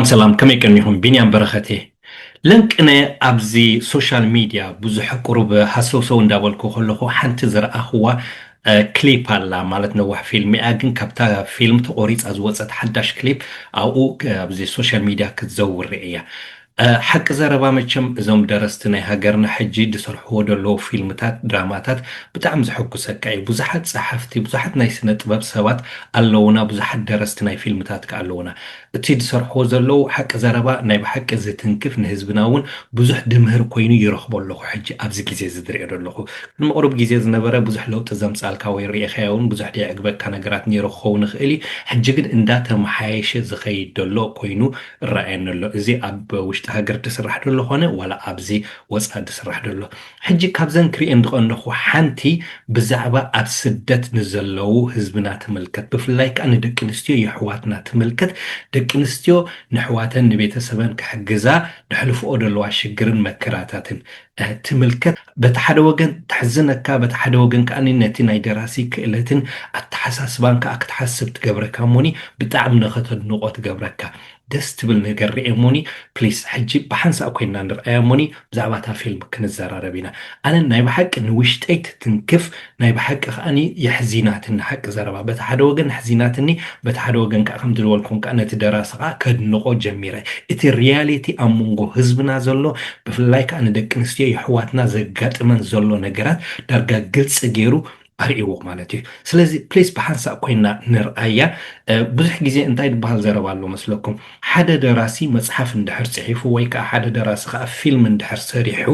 ሰላም ሰላም ከመይ ቀኒኹም ቢንያም በረኸት እየ ለንቅነ ኣብዚ ሶሻል ሚድያ ብዙሕ ቁሩብ ሃሰውሰው እንዳበልኩ ከለኹ ሓንቲ ዝረኣኽዋ ክሊፕ ኣላ ማለት ነዋሕ ፊልም እያ ግን ካብታ ፊልም ተቆሪፃ ዝወፀት ሓዳሽ ክሊፕ ኣብኡ ኣብዚ ሶሻል ሚድያ ክትዘውር እያ ሓቂ ዘረባ መቸም እዞም ደረስቲ ናይ ሃገርና ሕጂ ድሰርሕዎ ደለዉ ፊልምታት ድራማታት ብጣዕሚ ዘሕጉሰካ እዩ ብዙሓት ጸሓፍቲ ብዙሓት ናይ ስነ ጥበብ ሰባት ኣለዉና ብዙሓት ደረስቲ ናይ ፊልምታት ከኣ ኣለዉና እቲ ድሰርሕዎ ዘለዉ ሓቂ ዘረባ ናይ ብሓቂ ዝትንክፍ ንህዝብና ውን ብዙሕ ድምህር ኮይኑ ይረኽቦ ኣለኹ ሕጂ ኣብዚ ግዜ እዚ ድሪኦ ደለኹ ቅድሚ ቁሩብ ግዜ ዝነበረ ብዙሕ ለውጢ ዘምጻልካ ወይ ሪኢኻዮ ውን ብዙሕ ደየዕግበካ ነገራት ኔሩ ክኸውን ይኽእል እዩ ሕጂ ግን እንዳ ተመሓየሸ ዝኸይድ ደሎ ኮይኑ እረኣየኒ ኣሎ እዚ ኣብ ውሽጢ ሃገር ድስራሕ ደሎ ኮነ ዋላ ኣብዚ ወጻኢ ድስራሕ ደሎ ሕጂ ካብዘን ክሪኤን ድቀንደኩ ሓንቲ ብዛዕባ ኣብ ስደት ንዘለዉ ህዝብና ትምልከት ብፍላይ ከኣ ንደቂ ኣንስትዮ የሕዋትና ትምልከት ደቂ ኣንስትዮ ነሕዋተን ንቤተሰበን ክሕግዛ ደሕልፍኦ ደለዋ ሽግርን መከራታትን ትምልከት በቲ ሓደ ወገን ተሕዝነካ በቲ ሓደ ወገን ከኣኒ ነቲ ናይ ደራሲ ክእለትን ኣተሓሳስባን ከኣ ክትሓስብ ትገብረካ እሞኒ ብጣዕሚ ንኸተድንቖ ትገብረካ ደስ ትብል ነገር ርኤ እሞኒ ፕሊስ ሕጂ ብሓንሳእ ኮይንና ንርኣያ እሞኒ ብዛዕባ እታ ፊልም ክንዘራረብ ኢና ኣነ ናይ ብሓቂ ንውሽጠይ ትትንክፍ ናይ ብሓቂ ከኣ የሕዚናትኒ ሓቂ ዘረባ በቲ ሓደ ወገን ኣሕዚናትኒ በቲ ሓደ ወገን ከኣ ከምቲ ዝበልኩም ከኣ ነቲ ደራሲ ከኣ ከድንቆ ጀሚረ እቲ ርያሊቲ ኣብ መንጎ ህዝብና ዘሎ ብፍላይ ከኣ ንደቂ ኣንስትዮ የሕዋትና ዘጋጥመን ዘሎ ነገራት ዳርጋ ግልጺ ጌሩ ኣርእይዎ ማለት እዩ ስለዚ ፕሊስ ብሓንሳእ ኮይና ንርኣያ ብዙሕ ግዜ እንታይ ድበሃል ዘረባ ኣሎ መስለኩም ሓደ ደራሲ መጽሓፍ እንድሕር ጽሒፉ ወይ ከኣ ሓደ ደራሲ ከኣ ፊልም እንድሕር ሰሪሑ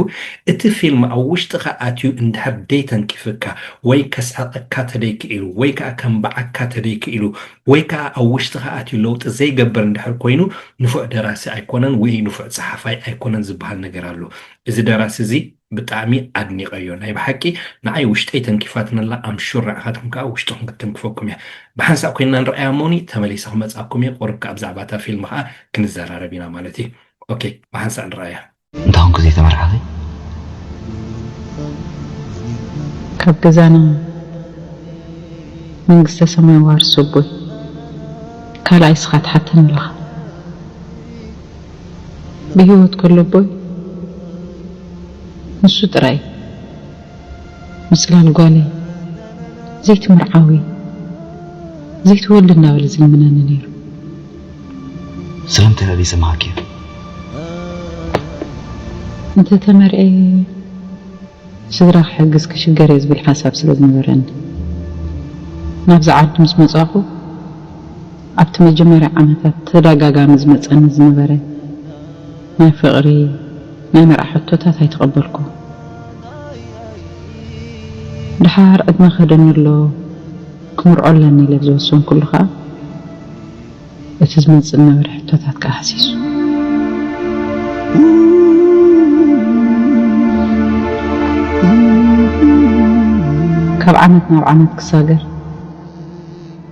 እቲ ፊልም ኣብ ውሽጥኻ ኣትዩ እንድሕር ደይተንኪፍካ ወይ ከስሕቐካ ተደይክኢሉ ወይ ከኣ ከንብዓካ ተደይክኢሉ ወይ ከኣ ኣብ ውሽጥኻ ኣትዩ ለውጢ ዘይገብር እንድሕር ኮይኑ ንፉዕ ደራሲ ኣይኮነን ውይ ንፉዕ ጸሓፋይ ኣይኮነን ዝብሃል ነገር ኣሎ እዚ ደራሲ እዚ ብጣዕሚ ኣድኒቀዮ ናይ ብሓቂ ንዓይ ውሽጠይ ተንኪፋትኒ ኣላ ኣም ሹር ንዓካትኩም ከኣ ውሽጥኩም ክትትንክፈኩም እያ ብሓንሳእ ኮይንና ንርኣያ እሞኒ ተመሊሰ ክመጻኩም እየ ቁሩብ ከኣ ብዛዕባ እታ ፊልም ከኣ ክንዘራረብ ኢና ማለት እዩ ኦኬ ብሓንሳእ ንርኣያ። እንተ ኮንኩ ዘይተመርዓኺ? ካብ ገዛና መንግስተ ሰማይ ዋርሶ ኣቦይ ካልኣይ እስኻ ትሓተኒ ኣለኻ። ብሂወት ከሎ ኣቦይ ንሱ ጥራይ ምጽላል ጓለይ ዘይትምርዓዊ ዘይትወልድ እንዳበለ ዝልምነኒ ኔሩ። ስለምንታይ ኣበይ ሰማዕክዮ? እንተ ተመርዕየ ስድራ ክሕግዝ ክሽገር እየ ዝብል ሓሳብ ስለ ዝነበረኒ ናብዚ ዓዲ ምስ መጻኹ፣ ኣብቲ መጀመርያ ዓመታት ተዳጋጋሚ ዝመጸኒ ዝነበረ ናይ ፍቕሪ ናይ መርዓ ሕቶታት ኣይተቐበልኩ። ድሓር ዕድመ ከደኒ ኣሎ ክምርዖ ኣለኒ ኢለ ብዝወሰንኩሉ ከኣ እቲ ዝመጽእ ዝነበረ ሕቶታት ከኣ ሃሲሱ። ካብ ዓመት ናብ ዓመት ክሳገር።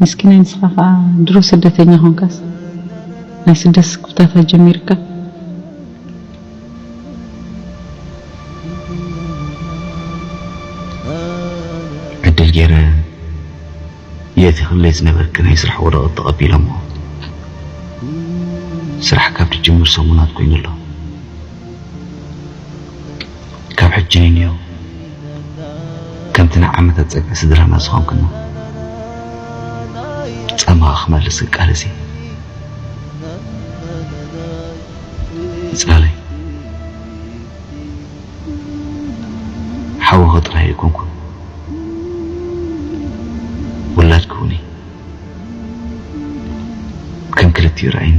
ምስኪናይ ንስኻ ከኣ ድሮ ስደተኛ ኮንካስ ናይ ስደት ስክፍታታት ጀሚርካ። ዕድል ጌረ እየ እቲ ክብለይ ዝነበርኪ ናይ ስራሕ ወረቐት ተቐቢሎሞ ስራሕ ካብ ድጅምር ሰሙናት ኮይኑ ኣሎ። ካብ ሕጂ ንንየው ከምቲ ናይ ዓመታት ጸግዒ ስድራና ዝኾንክና ጻማኻ ክመልስ ክቃለስ እየ። ይጻለይ ሓውኺ ጥራይ ኣይኮንኩን ውላድኪ እውን እየ ከም ክልቲኡ ርኣይኒ።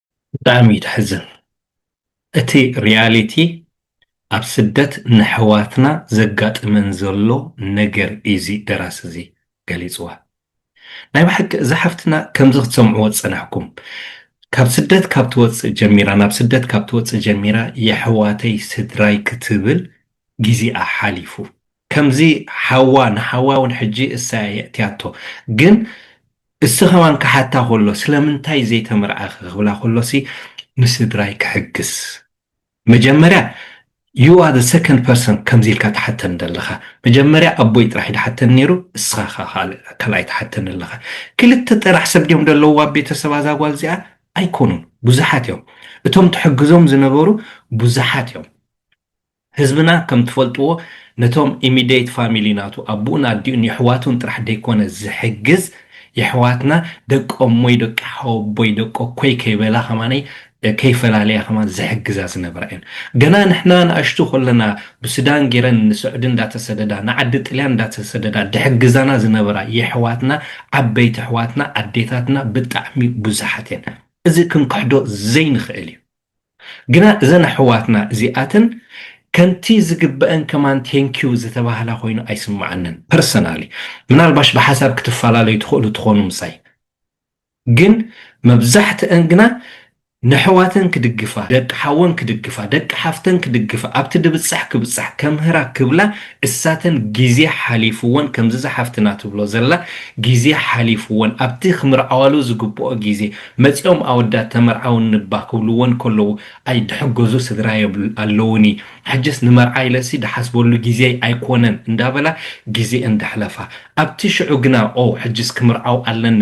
ብጣዕሚ እዩ ተሕዝን እቲ ሪያሊቲ ኣብ ስደት ነሕዋትና ዘጋጥመን ዘሎ ነገር እዩ እዚ ደራሲ እዚ ገሊጽዋ ናይ ብሓቂ እዛ ሓፍትና ከምዚ ክትሰምዕዎ ዝጸናሕኩም ካብ ስደት ካብ ትወጽእ ጀሚራ ናብ ስደት ካብ ትወጽእ ጀሚራ የሕዋተይ ስድራይ ክትብል ጊዚኣ ሓሊፉ ከምዚ ሓዋ ንሓዋ ውን ሕጂ እሳ እያ የእትያቶ ግን እሱ ከማን ክሓታ ከሎ ስለምንታይ ዘይተመርዓኪ ክብላ ከሎሲ ንስድራይ ክሕግስ መጀመርያ you are the second person ከምዚ ኢልካ ትሓተኒ ዘለካ መጀመርያ ኣቦይ ጥራሕ እዩ ድሓተኒ ነይሩ እስካ ከኣ ካልኣይ ትሓተኒ ኣለካ ክልተ ጥራሕ ሰብ ድዮም ደለውዋ ኣብ ቤተሰባ እዛ ጓል እዚኣ ኣይኮኑን ብዙሓት እዮም እቶም ትሕግዞም ዝነበሩ ብዙሓት እዮም ህዝብና ከም ትፈልጥዎ ነቶም ኢሚደይት ፋሚሊ ናቱ ኣቡኡን ኣዲኡን የሕዋቱን ጥራሕ ደይኮነ ዝሕግዝ የሕዋትና ደቂ ኣሞይ ደቂ ሓወቦይ ደቂ ኣኮይ ከይበላ ከማነይ ከይፈላለያ ከማን ዝሕግዛ ዝነበራ እየን ገና ንሕና ኣናእሽቱ ከለና ብስዳን ገይረን ንስዑዲ እንዳተሰደዳ ንዓዲ ጥልያን እንዳተሰደዳ ድሕግዛና ዝነበራ የሕዋትና ዓበይቲ ኣሕዋትና ኣዴታትና ብጣዕሚ ቡዙሓት እየን እዚ ክንክሕዶ ዘይንክእል እዩ ግና እዘን ኣሕዋትና እዚኣተን ከምቲ ዝግበእን ከማን ቴንኪው ዝተባህላ ኮይኑ ኣይስመዓንን ፐርሰናሊ ምናልባሽ ብሓሳብ ክትፈላለዩ ትኽእሉ ትኾኑ ምሳይ ግን መብዛሕትእን ግና ነሕዋተን ክድግፋ ደቂ ሓወን ክድግፋ ደቂ ሓፍተን ክድግፋ ኣብቲ ድብጻሕ ክብጻሕ ከምህራ ክብላ እሳተን ጊዜ ሓሊፍወን ከምዚ እዛ ሓፍትና ትብሎ ዘላ ጊዜ ሓሊፍወን ኣብቲ ክምርዓዋሉ ዝግብኦ ጊዜ መጺኦም ኣወዳት ተመርዓውኒ'ባ ክብልወን ከለዉ ኣይድሕገዙ ስድራየ ኣለዉኒ ሕጅስ ንመርዓ ኢለሲ ድሓስበሉ ግዜይ ኣይኮነን እንዳበላ ግዜኤን ደሕለፋ ኣብቲ ሽዑ ግና ኦው ሕጅስ ክምርዓው ኣለኒ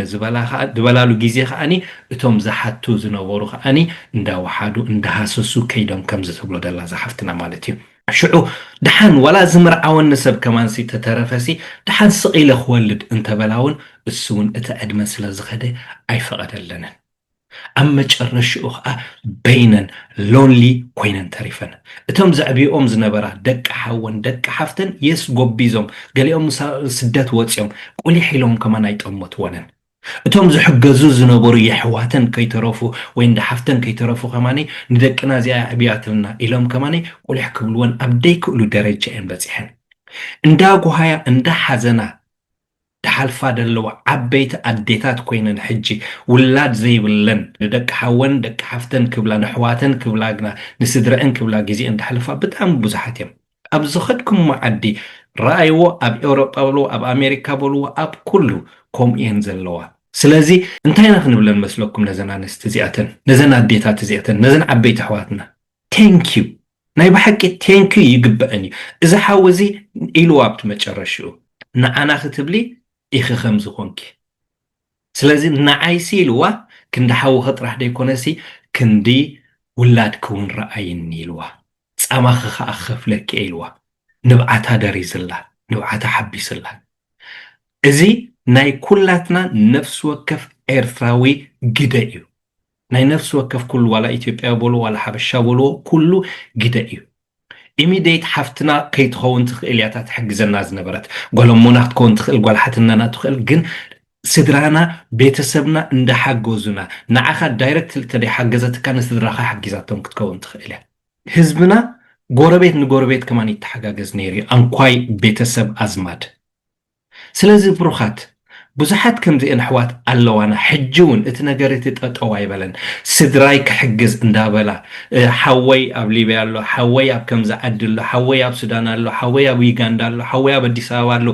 ዝበላሉ ግዜ ከኣ እቶም ዝሓቱ ዝነበሩ ከኣ እንዳወሓዱ እንዳሃሰሱ ከይዶም ከምዚ ትብሎ ደላ እዛ ሓፍትና ማለት እዩ። ሽዑ ደሓን ዋላ ዝምርዓወኒ ሰብ ከማንሲ ተተረፈሲ ደሓን ስቕ ኢለ ክወልድ እንተበላውን እሱውን እቲ ዕድመ ስለ ዝኸደ ኣይፈቐደለንን። ኣብ መጨረሽኡ ከኣ በይነን፣ ሎንሊ፣ ኮይነን ተሪፈን። እቶም ዘዕብየኦም ዝነበራ ደቂ ሓወን ደቂ ሓፍተን የስ ጎቢዞም፣ ገሊኦም ስደት ወጺኦም፣ ቁሊሕ ኢሎም ከማን ኣይጠመቱወንን። እቶም ዝሕገዙ ዝነበሩ የሕዋተን ከይተረፉ ወይ እንዳ ሓፍተን ከይተረፉ ከማን ንደቅና እዚኣ የዕብያትልና ኢሎም ከማን ቁሊሕ ክብልወን ኣብ ደይክእሉ ደረጃ እየን በጺሐን እንዳ ጉሃያ እንዳ ሓዘና ድሓልፋ ደለዋ ዓበይቲ ኣዴታት ኮይነን ሕጂ ውላድ ዘይብለን ንደቂ ሓወን ደቂ ሓፍተን ክብላ ነሕዋተን ክብላ ግና ንስድረኣን ክብላ ግዜኤን ደሕልፋ ብጣዕሚ ብዙሓት እየም ኣብ ዝኸድኩሞ ዓዲ ረኣይዎ ኣብ ኤውሮጳ በልዎ ኣብ ኣሜሪካ በልዎ ኣብ ኩሉ ከምኡ እየን ዘለዋ ስለዚ እንታይ ኢና ክንብለን መስለኩም ነዘን ኣንስቲ እዚኣተን ነዘን ኣዴታት እዚኣተን ነዘን ዓበይቲ ኣሕዋትና Thank you ናይ ብሓቂ Thank you ይግበኣን እዩ እዚ ሓው እዚ ኢልዋ ኣብቲ መጨረሽኡ ንዓና ክትብሊ ኢኺ ከምዚ ኮንኪ ስለዚ ንዓይሲ ኢልዋ ክንዲ ሓውኺ ጥራሕ ደይኮነሲ ክንዲ ውላድኪ ውን ረኣይኒ ኢልዋ ጻማኺ ከኣ ክኸፍለኪ እየ ኢልዋ ንብዓታ ደሪዝላ ንብዓታ ሓቢስላ እዚ ናይ ኩላትና ነፍሲ ወከፍ ኤርትራዊ ግደ እዩ። ናይ ነፍሲ ወከፍ ኩሉ ዋላ ኢትዮጵያዊ በልዎ ዋላ ሓበሻ በልዎ ኩሉ ግደ እዩ። ኢሚደይት ሓፍትና ከይትኸውን ትኽእል እያ እታ ትሕግዘና ዝነበረት ጓል ኣሞና ክትከውን ትኽእል ጓል ሓትነና ትኽእል ግን ስድራና ቤተሰብና እንዳሓገዙና ንዓኻ ዳይረክትሊ ተደይሓገዘትካ ንስድራኻ ሓጊዛቶም ክትከውን ትኽእል እያ። ህዝብና ጎረቤት ንጎረቤት ከማን ይተሓጋገዝ ነይሩ እዩ ኣንኳይ ቤተሰብ ኣዝማድ። ስለዚ ብሩኻት ብዙሓት ከምዚኤን ኣሕዋት ኣለዋና ሕጂ ውን እቲ ነገር እቲ ጠጠው ኣይበለን ስድራይ ክሕግዝ እንዳበላ ሓወይ ኣብ ሊብያ ኣሎ ሓወይ ኣብ ከምዚ ዓዲ ኣሎ ሓወይ ኣብ ሱዳን ኣሎ ሓወይ ኣብ ዩጋንዳ ኣሎ ሓወይ ኣብ ኣዲስ ኣበባ ኣሎ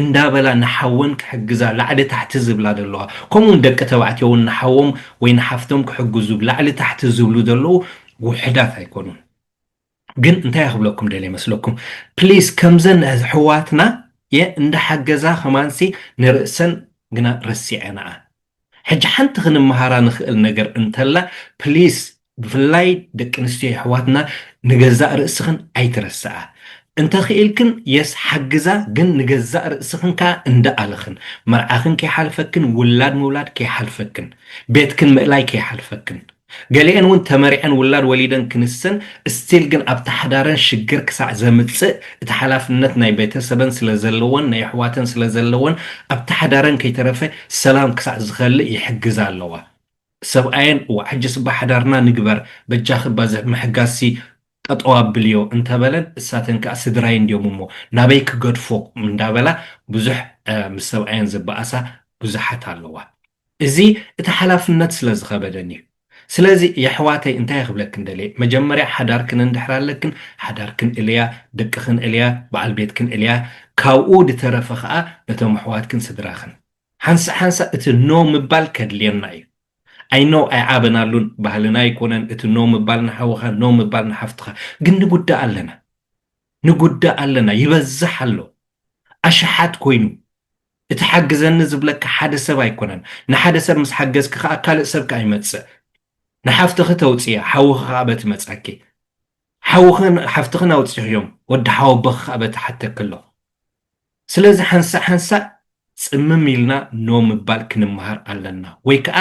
እንዳበላ ንሓወን ክሕግዛ ላዕሊ ታሕቲ ዝብላ ዘለዋ ከምኡ ውን ደቂ ተባዕትዮ ውን ንሓዎም ወይ ንሓፍቶም ክሕግዙ ላዕሊ ታሕቲ ዝብሉ ዘለዉ ውሑዳት ኣይኮኑን። ግን እንታይ ክብለኩም ደልየ መስለኩም ፕሊስ ከምዘን ኣሕዋትና እንዳሓገዛ ከማንሲ ንርእሰን ግና ረሲዐንኣ ሕጂ ሓንቲ ክንመሃራ ንክእል ነገር እንተላ ፕሊስ ብፍላይ ደቂ ኣንስትዮ የሕዋትና ንገዛእ ርእስክን ኣይትረስኣ እንተ ክኢልክን የስ ሓግዛ ግን ንገዛእ ርእስክን ከኣ እንዳኣልኽን መርዓክን ከይሓልፈክን ውላድ ምውላድ ከይሓልፈክን ቤትክን ምእላይ ከይሓልፈክን ገሊኤን እውን ተመሪዐን ውላድ ወሊደን ክንሰን እስቲል ግን ኣብቲ ሓዳረን ሽግር ክሳዕ ዘምጽእ እቲ ሓላፍነት ናይ ቤተሰበን ስለዘለዎን ናይ ኣሕዋተን ስለዘለዎን ኣብቲ ሓዳረን ከይተረፈ ሰላም ክሳዕ ዝኸልእ ይሕግዛ ኣለዋ ሰብኣየን እወ ዓጅስባ ሓዳርና ንግበር በጃኺ ባዚ ምሕጋዝሲ ጠጠው ኣብልዮ እንተበለን እሳተን ከኣ ስድራይ እንድዮም እሞ ናበይ ክገድፎ እንዳበላ ብዙሕ ምስ ሰብኣየን ዝበኣሳ ብዙሓት ኣለዋ። እዚ እቲ ሓላፍነት ስለ ዝኸበደኒ እዩ። ስለዚ የሕዋተይ እንታይ ክብለክን ደልየ መጀመርያ ሓዳርክን እንድሕር ኣለክን ሓዳርክን እልያ ደቅክን እልያ በዓል ቤትክን እልያ ካብኡ ድተረፈ ከኣ ነቶም ኣሕዋትክን ስድራክን ሓንሳእ ሓንሳእ እቲ ኖ ምባል ከድልየና እዩ ኣይ ኖው ኣይዓበናሉን ባህልና ኣይኮነን እቲ ኖ ምባል ንሓውኻ ኖ ምባል ንሓፍትኻ ግን ንጉዳእ ኣለና ንጉዳእ ኣለና ይበዝሕ ኣሎ ኣሽሓት ኮይኑ እቲ ሓግዘኒ ዝብለካ ሓደ ሰብ ኣይኮነን፣ ንሓደ ሰብ ምስ ሓገዝኪ ከኣ ካልእ ሰብ ከኣ ይመጽእ። ንሓፍትኺ ተውጽእያ፣ ሓውኺ ከኣ በቲ መጻኪ። ሓውኽን ሓፍትኽን ኣውጺኽዮም፣ ወዲ ሓወቦኺ ከኣ በቲ ሓተኪ ኣሎ። ስለዚ ሓንሳእ ሓንሳእ ጽምም ኢልና ኖ ምባል ክንመሃር ኣለና። ወይ ከኣ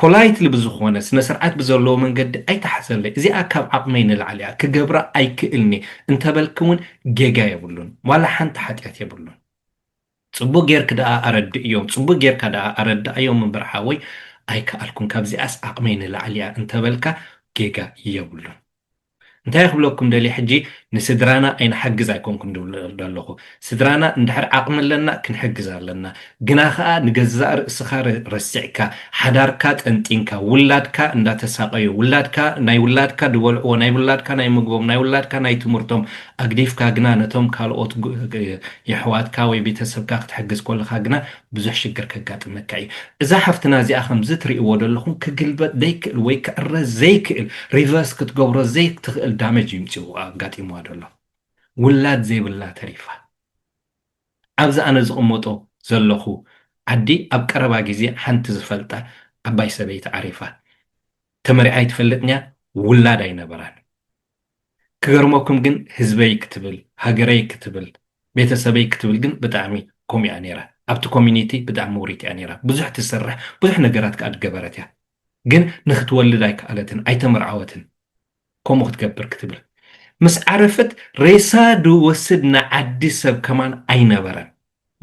ፖላይትሊ ብዝኾነ፣ ስነስርዓት ብዘለዎ መንገዲ ኣይትሓዘለይ፣ እዚኣ ካብ ዓቕመይ ንላዕሊ እያ፣ ክገብራ ኣይክእልን'የ እንተበልኪ'ውን ጌጋ የብሉን፣ ዋላ ሓንቲ ሓጢኣት የብሉን። ጽቡቅ ጌርክ ደኣ ኣረድእዮም። ጽቡቅ ጌርካ ደኣ ኣረድኣዮም እምበር ሓወይ ኣይከኣልኩን ካብዚኣስ ዓቅመይ ንላዕሊ እያ እንተበልካ ጌጋ የብሉን እንታይ ክብለኩም ደልየ ሕጂ ንስድራና ኣይንሓግዝ ኣይኮንኩን ድብል ደለኹ ስድራና እንድሕር ዓቅሚ ኣለና ክንሕግዝ ኣለና ግና ከኣ ንገዛእ ርእስኻ ረሲዕካ ሓዳርካ ጠንጢንካ ውላድካ እንዳተሳቀዩ ውላድካ ናይ ውላድካ ድበልዕዎ ናይ ውላድካ ናይ ምግቦም ናይ ውላድካ ናይ ትምህርቶም ኣግዲፍካ ግና ነቶም ካልኦት የሕዋትካ ወይ ቤተሰብካ ክትሕግዝ ኮለኻ ግና ብዙሕ ሽግር ከጋጥመካ ኢዩ። እዛ ሓፍትና እዚኣ ከምዚ ትሪእዎ ደለኹም ክግልበጥ ደይክእል ወይ ክዕረ ዘይክእል ሪቨርስ ክትገብሮ ዘይትኽእል ዳመጅ ኢዩ ምጺኡ ኣጋጢምዋ ደሎ። ውላድ ዘይብላ ተሪፋ። ኣብዚ ኣነ ዝቕመጦ ዘለኹ ዓዲ ኣብ ቀረባ ግዜ ሓንቲ ዝፈልጣ ዓባይ ሰበይቲ ዓሪፋ። ተመሪዓ ኣይትፈልጥን ኢያ ውላድ ኣይነበራን። ክገርመኩም ግን ህዝበይ ክትብል ሃገረይ ክትብል ቤተሰበይ ክትብል ግን ብጣዕሚ ከምኡ እያ ነይራ ኣብቲ ኮሚኒቲ ብጣዕሚ ውሪት እያ ነይራ ብዙሕ ትሰርሕ ብዙሕ ነገራት ከኣ ገበረት እያ ግን ንክትወልድ ኣይከኣለትን ኣይተመርዓወትን ከምኡ ክትገብር ክትብል ምስ ዓረፈት ሬሳ ድወስድ ንዓዲ ሰብ ከማን ኣይነበረን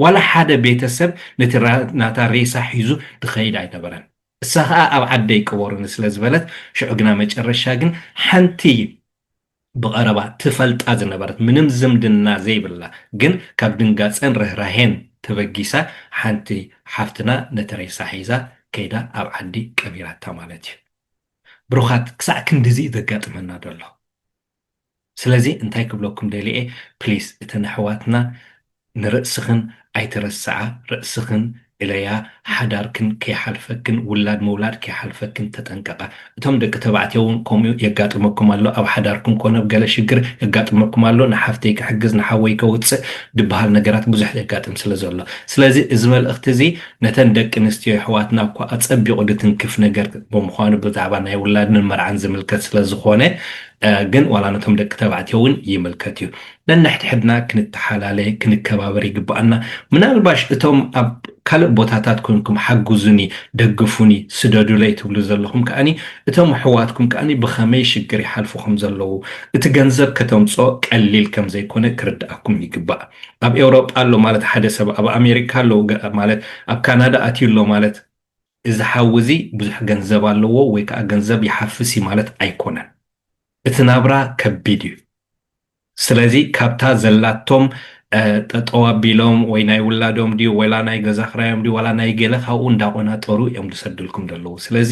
ዋላ ሓደ ቤተሰብ ነቲ ናታ ሬሳ ሒዙ ድኸይድ ኣይነበረን እሳ ከኣ ኣብ ዓደይ ቅበሩኒ ስለ ዝበለት ሽዑ ግና መጨረሻ ግን ሓንቲ ብቐረባ ትፈልጣ ዝነበረት ምንም ዝምድና ዘይብላ ግን ካብ ድንጋጸን ርህራሄን ተበጊሳ ሓንቲ ሓፍትና ነቲ ሬሳ ሒዛ ከይዳ ኣብ ዓዲ ቀቢራታ ማለት እዩ። ብሩኻት ክሳዕ ክንድዚ እዩ ዘጋጥመና ዘሎ። ስለዚ እንታይ ክብለኩም ደሊየ ፕሊስ እተን ኣሕዋትና ንርእስኽን ኣይትረስዓ ርእስኽን እለያ ሓዳርክን ከይሓልፈክን ውላድ ምውላድ ከይሓልፈክን ተጠንቀቃ እቶም ደቂ ተባዕትዮ ውን ከምኡ የጋጥመኩም ኣሎ ኣብ ሓዳርኩም ኮነ ኣብ ገለ ሽግር የጋጥመኩም ኣሎ ንሓፍተይ ክሕግዝ ንሓወይ ከውጽእ ድብሃል ነገራት ብዙሕ የጋጥም ስለ ዘሎ ስለዚ እዚ መልእኽቲ እዚ ነተን ደቂ ኣንስትዮ የሕዋትና እኳ ኣጸቢቑ ድትንክፍ ነገር ብምዃኑ ብዛዕባ ናይ ውላድን መርዓን ዝምልከት ስለ ዝኾነ ግን ዋላ ነቶም ደቂ ተባዕትዮ እውን ይምልከት እዩ ነንሕድሕድና ክንተሓላለ ክንከባበር ይግባኣና ምናልባሽ እቶም ኣብ ካልእ ቦታታት ኮንኩም ሓግዙኒ ደግፉኒ ስደዱለይ ትብሉ ዘለኹም ከኣኒ እቶም ኣሕዋትኩም ከኣኒ ብኸመይ ሽግር ይሓልፉ ከም ዘለዉ እቲ ገንዘብ ከተምጽኦ ቀሊል ከም ዘይኮነ ክርድኣኩም ይግባእ ኣብ ኤውሮጳ ኣሎ ማለት ሓደ ሰብ ኣብ ኣሜሪካ ኣሎ ማለት ኣብ ካናዳ ኣትዩ ኣሎ ማለት እዚ ሓዊ እዚ ብዙሕ ገንዘብ ኣለዎ ወይ ከኣ ገንዘብ ይሓፍስ እዩ ማለት ኣይኮነን። እቲ ናብራ ከቢድ እዩ። ስለዚ ካብታ ዘላቶም ጠጠው ኣቢሎም ወይ ናይ ውላዶም ድዩ ወላ ናይ ገዛ ክራዮም ድዩ ዋላ ናይ ገለ ካብኡ እንዳቆናጠሩ እዮም ዝሰድልኩም ዘለዉ። ስለዚ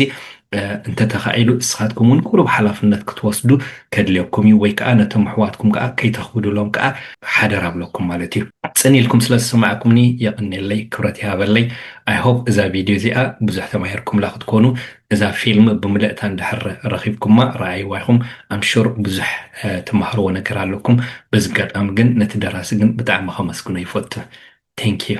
እንተተኻኢሉ እስኻትኩም ውን ቁሩብ ሓላፍነት ክትወስዱ ከድልየኩም እዩ ወይ ከኣ ነቶም ኣሕዋትኩም ከኣ ከይተኽብዱሎም ከኣ ሓደራ እብለኩም ማለት እዩ። ጽን ኢልኩም ስለ ዝሰማዕኩምኒ የቐኔለይ ክብረት ይሃበለይ። I hope እዛ ቪድዮ እዚኣ ብዙሕ ተማሂርኩምላ ክትኮኑ። እዛ ፊልም ብምልእታ እንድሕር ረኺብኩማ ረኣይዋ ኢኹም I'm sure ብዙሕ ትማሃርዎ ነገር ኣለኩም። በዚ ኣጋጣሚ ግን ነቲ ደራሲ ግን ብጣዕሚ ከመስግኖ ይፈቱ። Thank you።